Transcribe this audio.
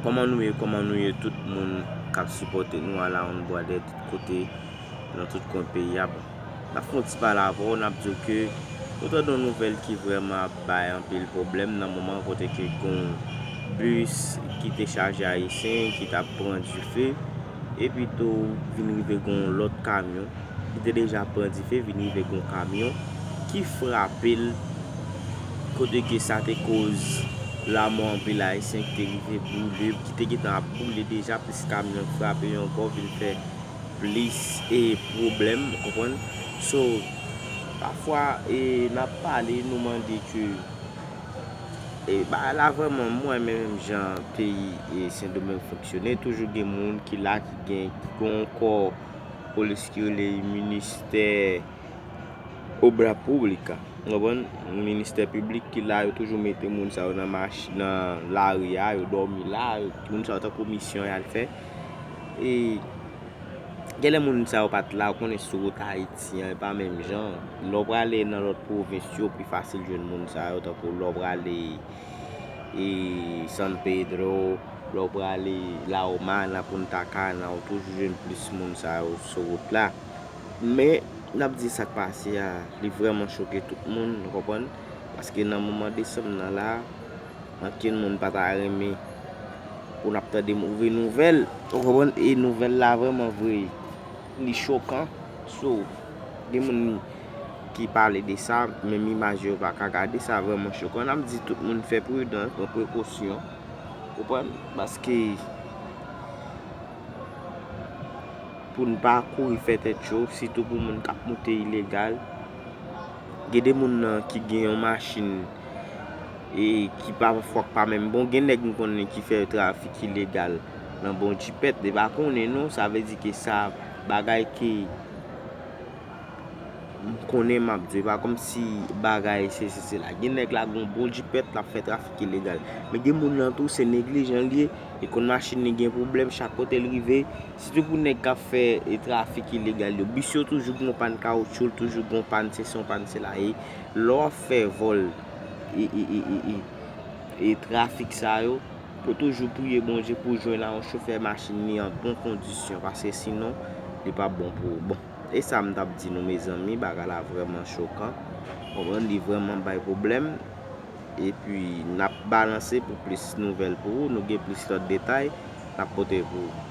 Koman nou ye koman nou ye tout moun kap sipote nou ala on bwa dè tout kote nan tout kwen peyi a bon nap fon ti pale avè w nap diw ke nou tande on nouvèl ki vrèman ap bay anpil pwoblèm nan moman kote ke gon bis ki te chaje ayisyen ki tap pran dife epi tou vin rive gon lòt kamyon. ki te deja ap pran dife vin rive gen yon kamyon ki frape l kote ke sa te koz lanmò anpil ayisyen ki te rive boule, ki te gentan ap boule deja plis kamyon k frape yo ankò vin fè plis e pwoblèm ou konprann so pafwa e n ap pale nou mande ke e bagay la vrèman m wè menm jan peyi e sendomeng fonksyone toujou gen moun ki la ki gen ki gen yon kò. polis ki rele ministè obra publica ou konprann ministè piblik ki la yo toujou mete moun sa yo nan mach nan lari a yo dòmi la moun sa yo tankou misyon yal fè e genlè moun sa yo pat la ou konnen sou wout ayiti an e pa menm jan lè ou prale nan lòt pwovens yo pi fasil jwenn moun sa yo tankou lè ou prale e San Pedro, lè w prale La Romana, Punta Cana, ou toujou jwenn plis moun sa yo sou wout la. Men, n ap di sa k pase a, li vrèman choke tout moun, nou konprann, paske nan moman desanm nan la, ankenn moun pa ta renmen pou n ap tande move nouvèl, ou konprann, e nouvèl la vrèman vre. Li chokan so gen moun ki pale de sa menm imaj yo pa ka gade sa vreman chokan nap di tout moun fè prudan pran prekosyon ou konprann paske pou n pa kouri fè tèt cho sitou pou moun kap moute ilegal gen de moun nan ki gen yon machin e ki pa fwa k pa menm bon gen nèg m konnen ki fè trafik ilegal nan bon jipèt li pa konnen non sa vle di ke sa bagay ke m konnen m ap di se pa kòmsi bagay sesi sela gen nèg la gon bon jipèt l ap fè trafik ilegal men gen moun nan tou se neglijan l ye li konn machin li gen pwoblèm chak kote l rive sitou pou nèg k ap fè trafik ilegal yo bis yo toujou gon pàn kawotchou l toujou gon pàn sesi yon pàn sela e Lè w ap fè vòl e trafik sa yo, pou toujou priye Bondye pou jwenn a yon chofè machin li an bon kondisyon paske sinon li pap bon pou ou. Bon, e sa m tap di nou mezanmi, bagay la vrèman chokan, konprann li vrèman bay pwoblèm epi nap balanse pou plis nouvèl pou ou, nou gen plis lòt detay nap pote pou ou.